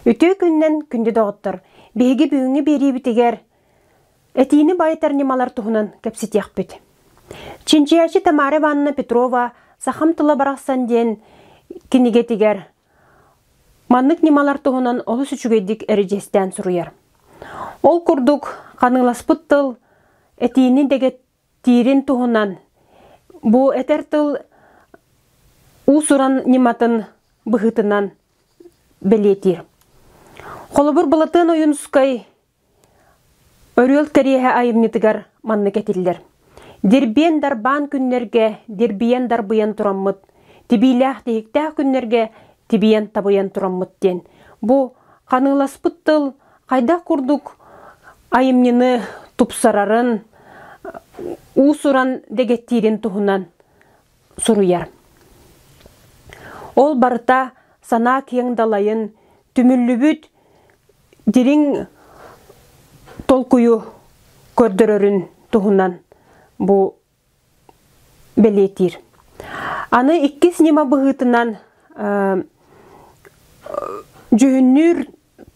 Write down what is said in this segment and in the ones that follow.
Үтүө күннэн күндү доҕоттор, биһиги бүгүҥҥү биэриибитигэр этиини байытар ньымалар туһунан кэпсэтиэхпит. Чинчийээччи Тамара Ивановна Петрова «Сахам тыла барахсан» диэн кинигэтигэр Маннык ньымалар туһунан олус үчүгэйдик эридьиэстээн суруйар. Ол курдук, ханыыласпыт тыл этиини дэгэтиирин туһунан бу этэр тыл уус-уран ньыматын быһыытынан бэлиэтиир. Холобур, Былатыан Ойуунускай Өрүөл кэриэһэ айымньытыгар маннык этиллэр: Дирбиэн дарбаан күннэргэ дирбийэн дарбыйан тураммыт, тибиилээх тиһиктээх күннэргэ тибийэн табыйан тураммыт диэн. Бу ханыыласпыт тыл хайдах курдук айымньыны тупсарарын, уусуран дэгэттиирин туһунан суруйар. Ол барыта санаа киэҥ далайын, түмүллүбүт дириҥ толкуйу көрдөрөрүн туһунан бу бэлиэтиир. Аны иккис ньыма быһыытынан дьүһүннүүр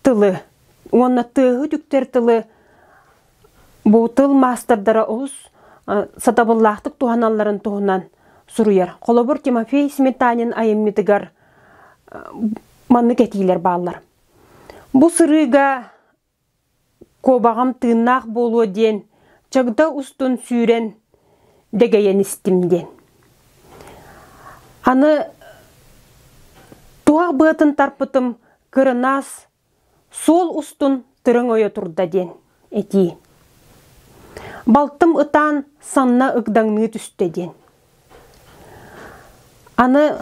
тылы уонна тыаһы түктэр тылы бу тыл маастардара олус сатабыллаахтык туһаналларын туһунан суруйар. Холобур, Тимофей Сметанин айымньытыгар маннык этиилэр бааллар. Бу сырыыга куобаҕам тыыннаах буолуо диэн чагда устун сүүрэн дэгэйэн истим диэн. Аны туһах быатын тарпытым кырынаас Суол устун төрөҥ ойо турда диэн этии. Балтым ытаан санна ыгдаҥныы түстэ диэн. Аны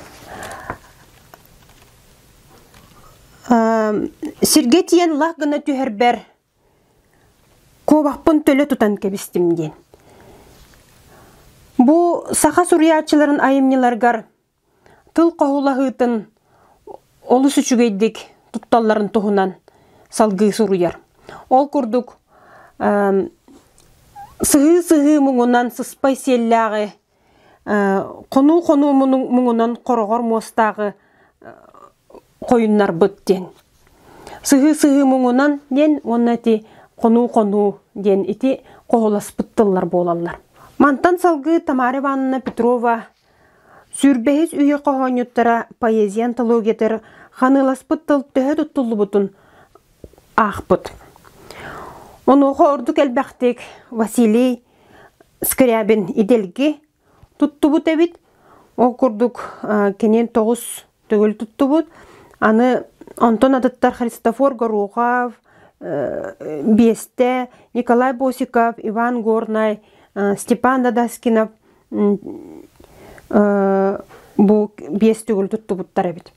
сиргэ тиийэн лах гына түһэрбэр куобахпын төлө тутан кэбистим диэн. Бу саха суруйааччыларын айымньыларыгар тыл хоһулаһыытын олус үчүгэйдик тутталларын туһунан салгыы суруйар. Ол курдук, сыһыы-сыһыы муҥунан сыспай сиэллээҕи, хонуу-хонуу муҥунан хороҕор муостааҕы хойуннарбыт диэн. Сыһыы-сыһыы муҥунан диэн уонна ити хонуу-хонуу диэн ити хоһуласпыт тыллар буолаллар. Мантан салгыы Тамара Ивановна Петрова Сүрбэһис үйэ хоһоонньуттара поэзия антологиятыгар Ханыыласпыт тыл төһө туттуллубутун аахпыт. Онуоха ордук элбэхтик Василий Скрябин идэлги туттубут эбит. Ол курдук кинин тоҕус төгүл туттубут. Аны онтон атыттар Христофор Горохов, э, Бесте, Николай Босиков, Иван Горнай, э, Степан Дадаскинов э, бу биэс төгүл туттубуттар эбит.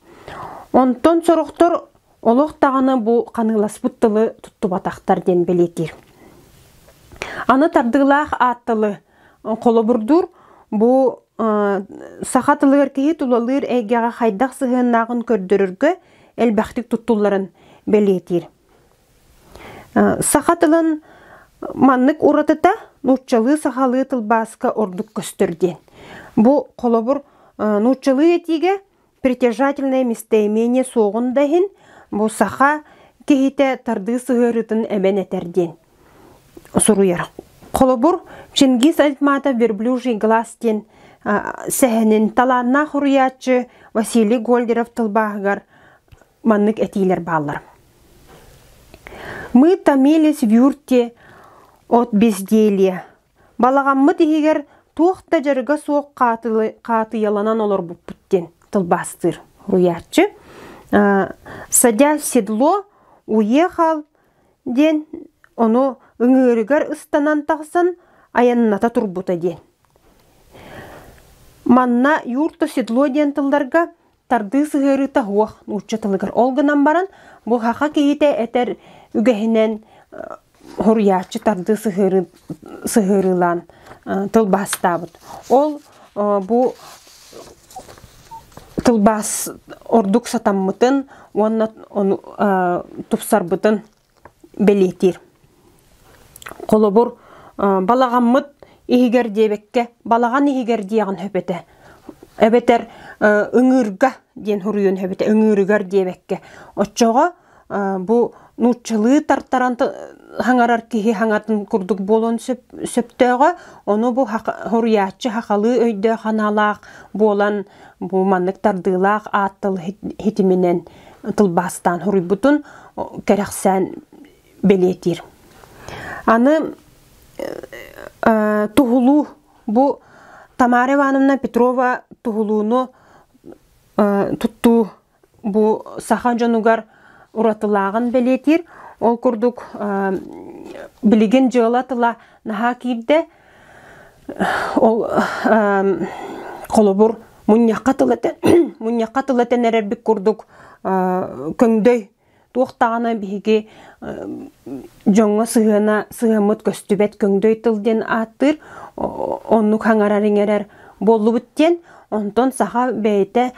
Онтон сорохтор олох даҕаны бу ханыыласпыт тылы туттубатахтар диэн бэлиэтиир. Аны тардыылаах аат тылы Холобурдуур, бу саха тылыгар киһи тулалыыр эйгэҕэ хайдах сыһыаннаахын көрдөрөргө элбэхтик туттулларын бэлиэтиир. Саха тылын маннык уратыта нууччалыы-сахалыы тылбааска ордук көстөр диэн. Бу холобур нууччалыы этиигэ притяжательнай местоимение суоҕун да иһин, бу саха киһитэ тардыы сыһыарыытын эмэн этэр диэн суруйар. Холобур, Чингис Айтматов «Верблюжий глаз» диэн сэһэнин талааннаах уруйааччы Василий Гольдеров тылбааһыгар маннык этиилэр бааллар. Мы томились в юрте от безделья, Балаҕаммыт иһигэр туох да дьарыга суох хаатыйаланан олорбуппут диэн тылбаастыыр уйааччы. «Садя в седло, уехал» диэн ону ыҥыырыгар ыстанан тахсан айанната турбута диэн. Манна «юрто седло» диэн тылларга Тардыы сыһыарыыта уох нуучча тылыгар ол гынан баран бу хаха киһитэ этэр үгэһинэн хоруйааччы тардыы сыһыарыы сыһыарыылаан тылбаастаабыт. Ол бу тылбаас ордук сатаммытын уонна ону тупсарбытын бэлиэтиир. Холобур, балаҕаммыт иһигэр диэбэккэ, балаҕан иһигэр диэҕин сөпөтө. Эбэтэр ыҥыырга диэн суруйуон сөпөтө. Ыҥыырыгар диэбэккэ. Оччоҕо бу нууччалыы тартаран хаҥарар киһи хаҥатын курдук буолуон сөп, сөптөөҕө. Ону бу суруйааччы сахалыы өйдөөх аналаах буолан бу маннык тардыылаах аат тыл ситиминэн тылбаастаан суруйбутун кэрэхсээн бэлиэтиир. Аны туһулуу бу Тамара Ивановна Петрова туһулууну туттуу бу саха дьонугар уратылааҕын бэлиэтиир. Ол курдук билигин дьыала тыла наһаа киирдэ, Ол холобур мунньахха тыл этэ мунньахха тыл этэн эрэрбит курдук көҥдөй туох даҕаны биһиги дьоҥҥо сыһыана сыһаммыт көстүбэт көҥдөй тыл диэн ааттыыр оннук хаҥарар-иҥэрэр буоллубут диэн онтон саха бэйэтэ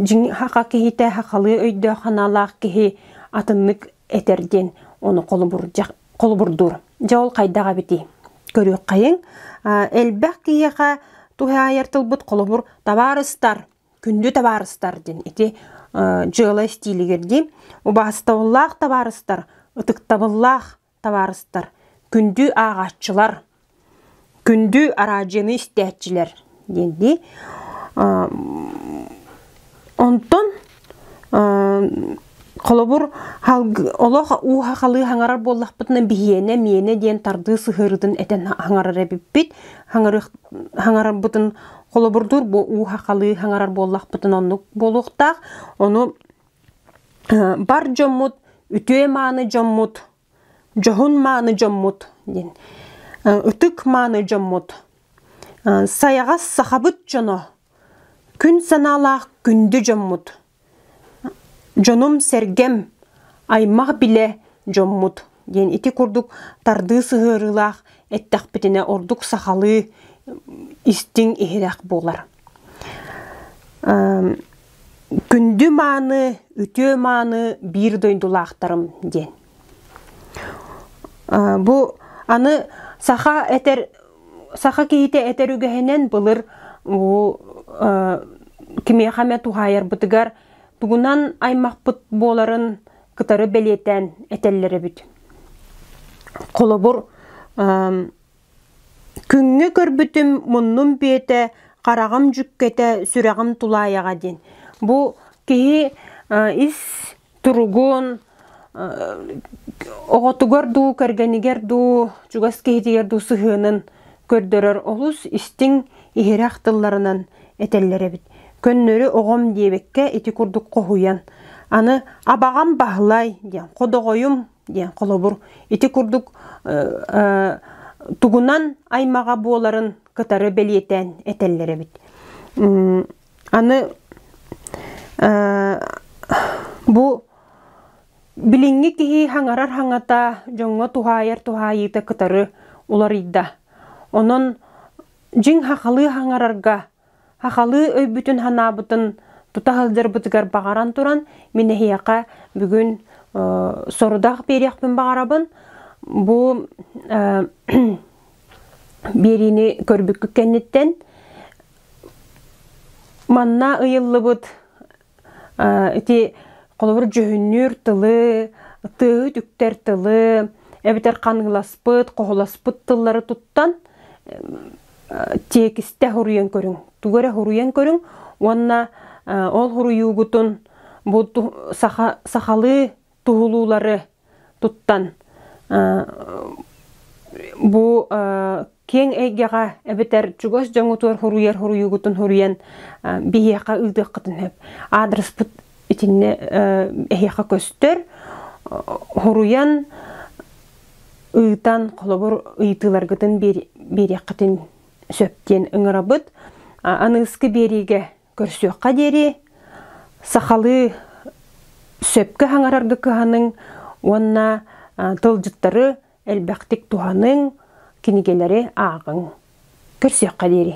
дьиҥ саха киһитэ сахалыы өйдөөх санаалаах киһи атыннык этэр диэн ону холобурдьах холобурдуур. Дьэ ол хайдах эбитий? Көрүөххэйиҥ. Элбэх киһиэхэ туһаайар тылбыт холобур табаарыстар, күндү табаарыстар диэн ити дьыала истиилигэр дии. Убаастабыллаах табаарыстар, ытыктабыллаах табаарыстар, күндү ааҕааччылар Күндү араадьыйаны истээччилэр диэн дии. Онтон холобур олох ууһа халыы хаҥарар буоллахпытына биһиэнэ миэнэ диэн тардыы сыһыарыытын этэн хаҥарар эбиппит хаҥарарбытын холобурдуур бу ууһа халыы хаҥарар буоллахпытына оннук буолуохтаах ону бар дьоммут үтүө мааны дьоммут дьоһун-мааны дьоммут диэн ытык-мааны дьоммут сайаҕас сахабыт дьоно күн санаалаах күндү дьоммут дьонум-сэргэм аймах-билэ дьоммут диэн ити курдук тардыы сыһыарыылаах эттэхпитинэ ордук сахалыы истиҥ иһирэх буолар Күндү-мааны, үтүө-мааны биир дойдулаахтарым диэн. Бу аны саха этэр саха киһитэ этэр үгэһинэн былыр бу кимиэхэ эмэ туһаайарбытыгар тугунан аймахпыт буоларын кытары бэлиэтээн этэллэр эбит. Холобур, Күҥҥэ көрбүтүм муннум биэтэ, хараҕым дьүккэтэ, сүрэҕим тулаайаҕа диэн. Бу киһи ис туругун, оҕотугар дуу, кэргэнигэр дуу, чугас киһитигэр дуу сыһыанын көрдөрөр олус истиҥ, иһирэх тылларынан этэллэр эбит. Көннөрү оҕом диэбиккэ ити курдук хоһуйан, аны «Абаҕам Баһылай» диэн, «Ходоҕойум диэн холобур ити курдук тугунан аймаҕа буоларын кытары бэлиэтээн этэллэр эбит аны бу билиҥҥи киһи хаҥарар хаҥата дьоҥҥо туһаайар туһаайыыта кытары уларыйда онон дьиҥ хахалыы хаҥарарга Хахалыы өйбүтүн-санаабытын тута сылдьарбытыгар баҕаран туран, мин эһиэхэ бүгүн сорудах биэриэхпин баҕарабын. Бу биэриини көрбүккүт кэнниттэн манна ыйыллыбыт ити холобур дьүһүннүүр тылы, тыаһыт үктэр тылы, эбэтэр ханыыласпыт, хоһуласпыт тыллары туттан тиэкистэ суруйан көрүҥ. Тугу эрэ суруйан көрүҥ уонна ол суруйуугутун бу сахалыы туһулуулары туттан бу киэҥ эйгэҕэ эбэтэр чугас дьоҥҥутугар хуруйар хуруйуугутун хуруйан биһиэхэ ыытыаххытын сөп. Аадырыспыт итиннэ эһиэхэ көстөр. Хуруйан ыытан холобур ыйытыыларгытын биэриэххитин сөп диэн ыҥырабыт. Аныыскы биэриигэ Көрсүөххэ диэри сахалыы сөпкө хаҥараргы кыһаныҥ уонна тылдьыттары элбэхтик туһаныҥ, кинигэлэри ааҕыҥ. Көрсүөххэ диэри.